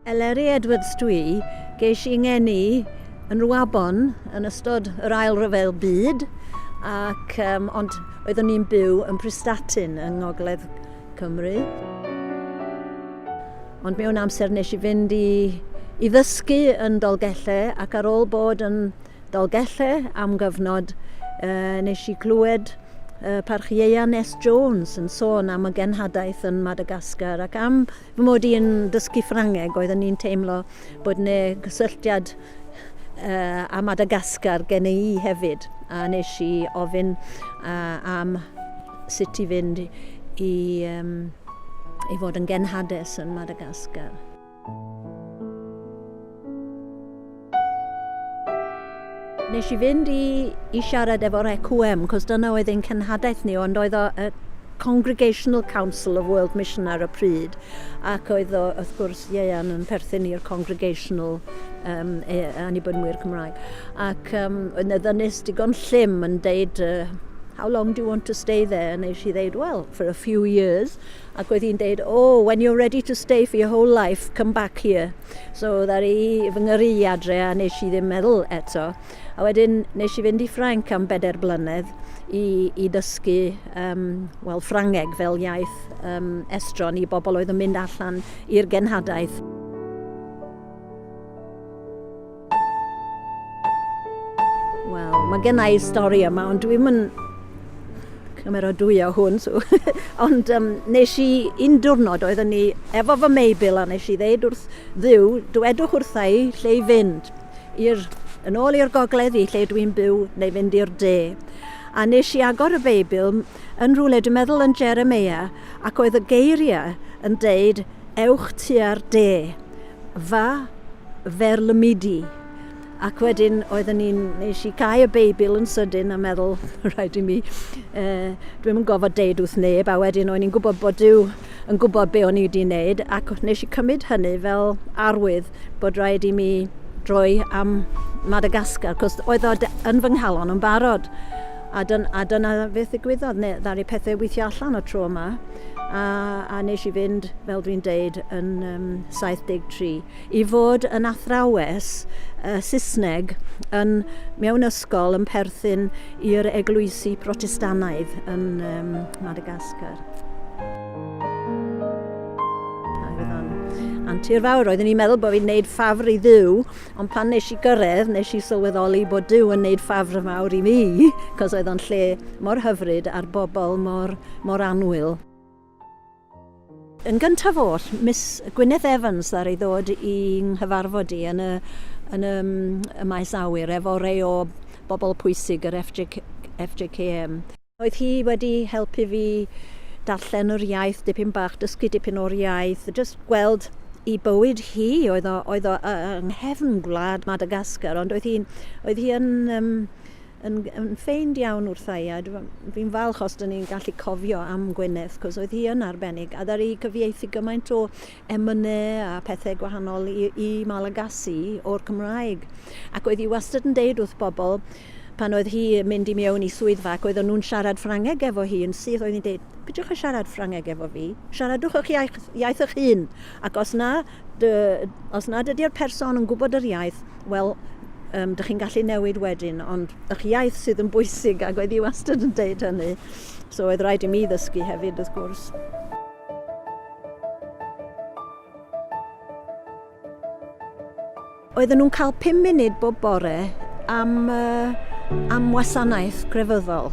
Eleri Edwards dwi, geis i ngeni yn Rwabon yn ystod yr ail ryfel byd, ac, um, ond oeddwn i'n byw yn Pristatyn yng Ngogledd Cymru. Ond mewn amser nes i fynd i, i ddysgu yn Dolgellau ac ar ôl bod yn Dolgellau am gyfnod, uh, nes i glywed uh, parch Ieuan Nes Jones yn sôn am y genhadaeth yn Madagascar ac am fy mod i'n dysgu Ffrangeg oeddwn i'n teimlo bod 'ne gysylltiad â Madagascar gen i hefyd, a nes i ofyn am sut i fynd i um, i fod yn genhades yn Madagascar. Nes i fynd i i siarad efo'r EQM, cos dyna oedd ein cenhadaeth ni, ond oedd o y Congregational Council of World Mission ar y pryd, ac oedd o, wrth gwrs, ieuan yn perthyn i'r Congregational um, e, Anibynwyr Cymraeg. Ac um, oedd na ddynus digon llym yn deud, uh, how long do you want to stay there? Nes i ddeud, well, for a few years. Ac oedd hi'n deud, oh, when you're ready to stay for your whole life, come back here. So ddaru fy ngyrru i adre a nes i ddim meddwl eto. A wedyn nes i fynd i Ffrainc am bedair blynedd i, i dysgu um, wel, Ffrangeg fel iaith um, estron i bobl oedd yn mynd allan i'r genhadaeth. Wel, mae gennau stori yma, ond dwi'n yn cymeradwyo hwn. So. ond um, nes i un diwrnod oeddwn ni efo fy Meibil a nes i ddeud wrth ddiw, dwedwch wrtha i lle i fynd i'r yn ôl i'r gogledd i lle dwi'n byw neu fynd i'r de. A nes i agor y Beibl yn rhywle, dwi'n meddwl yn Jeremia, ac oedd y geiriau yn deud, ewch tua'r de. fa fer lymidi ac wedyn oedden ni'n nes i cau y beibl yn sydyn a meddwl rhaid i mi uh, dwi'm yn gofod deud wrth neb a wedyn o'n i'n gwybod bod Dyw yn gwybod be o'n i wedi wneud ac nes i cymryd hynny fel arwydd bod rhaid i mi droi am Madagascar cos oedd o yn fy nghalon yn barod A dyn- a dyna beth ddigwyddodd, ne- ddaru pethe weithio allan y tro yma, a a nes i fynd, fel dwi'n deud, yn um, 73, i fod yn athrawes uh, Saesneg yn, mewn ysgol yn perthyn i'r eglwysi Protestanaidd yn um, Madagascar. Antur fawr, roeddwn i'n meddwl bod fi'n gwneud ffafr i ddiw Ond pan nes i gyrredd, nes i sylweddoli bod Duw yn neud ffafr fawr i mi, 'cos oedd o'n lle mor hyfryd a'r bobl mor, mor annwyl. Yn gyntaf oll, Miss Gwyneth Evans ddaru ddod i 'nghyfarfod i yn y, yn y, y maes awyr efo rei o bobl pwysig yr FJKM. Oedd hi wedi helpu fi darllen yr iaith dipyn bach, dysgu dipyn o'r iaith, jyst gweld i bywyd hi, oedd o, oedd o yng nghefn gwlad Madagascar, ond oedd hi'n, oedd hi yn, um, yn, yn ffeind iawn wrtha i, a fi'n falch os dyn ni'n gallu cofio am Gwyneth, cos oedd hi yn arbennig, a ddari cyfieithu gymaint o emynau a pethau gwahanol i, i Malagasy o'r Cymraeg. Ac oedd hi wastad yn deud wrth bobl, pan oedd hi yn mynd i mewn i swyddfa ac oedden nhw'n siarad Ffrangeg efo hi yn syth, oedd hi'n deud, pidwch a siarad Ffrangeg efo fi, siaradwch eich iaith, iaith eich hun, ac os na, dy, os na dydy'r person yn gwybod yr iaith, wel, um, dych chi'n gallu newid wedyn, ond eich iaith sydd yn bwysig, ac oedd hi wastad yn deud hynny. So oedd rhaid i mi ddysgu hefyd, wrth gwrs. Oedden nhw'n cael pum munud bob bore am, uh, am wasanaeth grefyddol.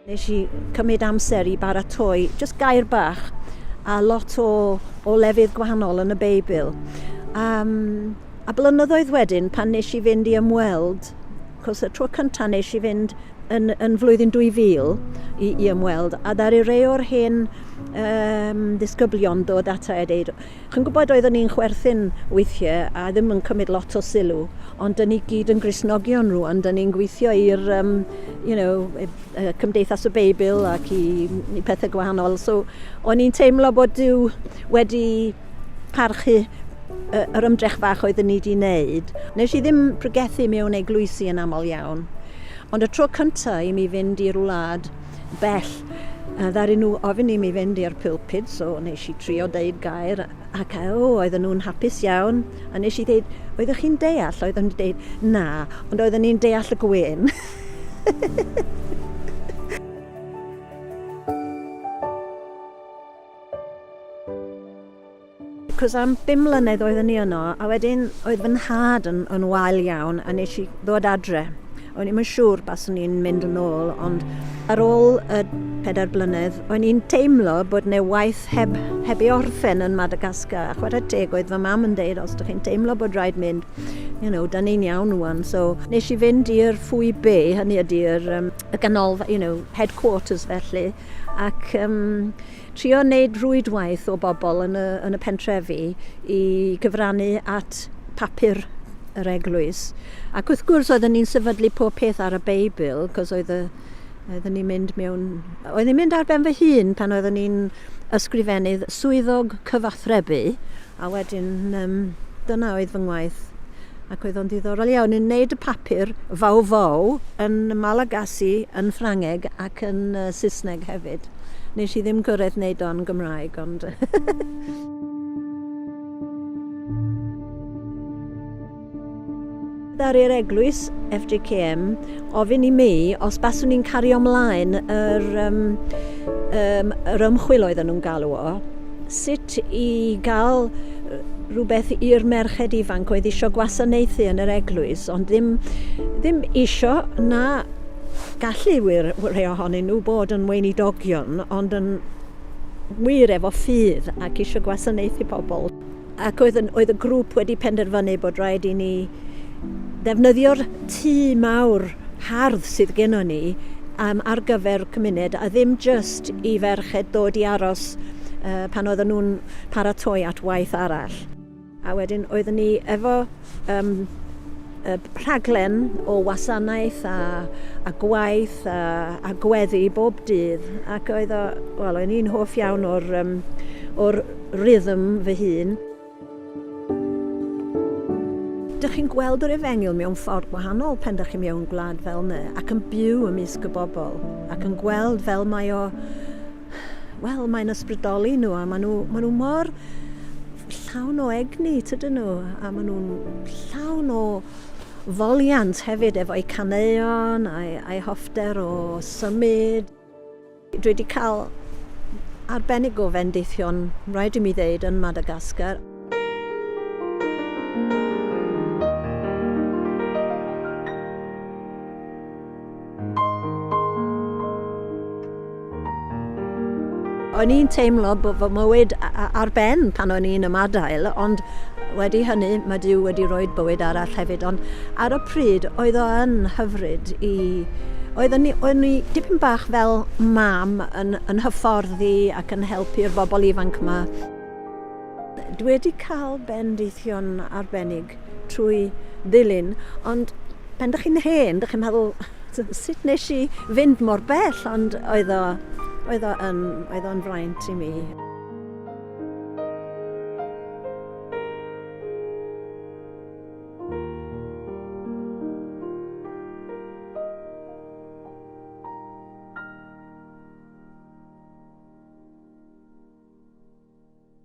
Nes i cymryd amser i baratoi just gair bach a lot o, o lefydd gwahanol yn y Beibl. Um, a blynyddoedd wedyn, pan nes i fynd i ymweld Achos y tro cyntaf nes i fynd yn, yn flwyddyn 2000 i, i ymweld, a ddaru rei o'r hen um, ddisgyblion dod ata a dweud, chi'n gwybod oeddwn ni'n chwerthin weithiau a ddim yn cymryd lot o sylw, ond dyn ni gyd yn grisnogion rwan, dyn ni'n gweithio i'r um, you know, e, e, Cymdeithas y Beibl ac i, i pethau gwahanol. So, o'n i'n teimlo bod Dyw wedi parchu yy yr ymdrech fach oeddwn i 'di neud. Nesh i ddim pregethu mewn eglwysi yn aml iawn. Ond y tro cynta i mi fynd i'r wlad bell, yy ddaru nhw ofyn i mi fynd i'r pulpud, so nesh i trio deud gair ac a- o oedden nhw'n hapus iawn a nesh i ddeud oeddech chi'n deall? Oeddwn i deud na, ond oeddwn i'n deall y gwên. Cos am bum mlynedd oeddwn ni yno, a wedyn oedd fy nhad yn, yn wael iawn, a nes i ddod adre. O'n i'n siŵr bas o'n i'n mynd yn ôl, ond ar ôl y pedair blynedd, o'n i'n teimlo bod ne waith heb, heb ei orffen yn Madagascar. A chwarae teg oedd fy mam yn deud, os ydych chi'n teimlo bod rhaid mynd, you know, da ni'n iawn wwan. So, nes i fynd i'r ffwy be, hynny ydy'r um, y ganolfa, you know, headquarters felly, ac um, trio wneud rwydwaith o bobl yn y, yn y pentrefi i gyfrannu at papur yr eglwys. Ac wrth gwrs, oedden ni'n sefydlu pob peth ar y Beibl, cos oedd y, oedden ni'n mynd mewn... Oedden ni'n mynd ar ben fy hun pan oedden ni'n ysgrifennydd swyddog cyfathrebu, A wedyn yym dyna oedd fy ngwaith ac oedd o'n ddiddorol iawn yn neud y papur Fau Fau yn Malagasy yn Ffrangeg ac yn yy Saesneg hefyd. Nesh i ddim gyrredd neud o'n Gymraeg ond yy Ddaru yr eglwys, FJKM, ofyn i mi os baswn i'n cario ymlaen yr, um, um, yr ymchwil oedden nhw'n galw o, sut i gael rhywbeth i'r merched ifanc oedd eisiau gwasanaethu yn yr eglwys, ond ddim, ddim eisiau na gallu wir rhai ohonyn nhw bod yn weinidogion, ond yn wir efo ffydd ac eisiau gwasanaethu pobl. Ac oedd, oedd y grŵp wedi penderfynu bod rhaid i ni ddefnyddio'r tŷ mawr hardd sydd genno ni um, ar gyfer cymuned a ddim just i ferched dod i aros uh, pan oedden nhw'n paratoi at waith arall. A wedyn oeddwn ni efo Ym mhob rhaglen o wasanaeth a a gwaith a a gweddi bob dydd ac oedd o, wel, o'n i'n hoff iawn o'r um, o'r rhythm fy hun. Dych chi'n gweld yr efengyl mewn ffordd gwahanol pen dych chi mewn gwlad fel yna ac yn byw ymysg y bobl ac yn gweld fel mae o, wel, mae'n ysbrydoli nhw a maen nhw, maen nhw mor llawn o egni tydyn nhw a maen nhw'n llawn o foliant hefyd efo'u caneuon a'i, a'i hoffter o symud. Dwi wedi cael arbennig o fendithion, rhaid i mi ddeud, yn Madagascar. O'n i'n teimlo bod fy mywyd ar ben pan o'n i'n ymadael, ond wedi hynny mae Dyw wedi rhoi bywyd arall hefyd. Ond ar y pryd oedd o yn hyfryd i... Oedd o'n i dipyn bach fel mam yn, yn hyfforddi ac yn helpu'r bobl ifanc yma. Dwi wedi cael bendithion arbennig trwy ddilyn, ond pan dych chi'n hen, dych chi'n meddwl, sut nes i fynd mor bell, ond oedd o, oedd o yn, oedd o'n fraint i mi.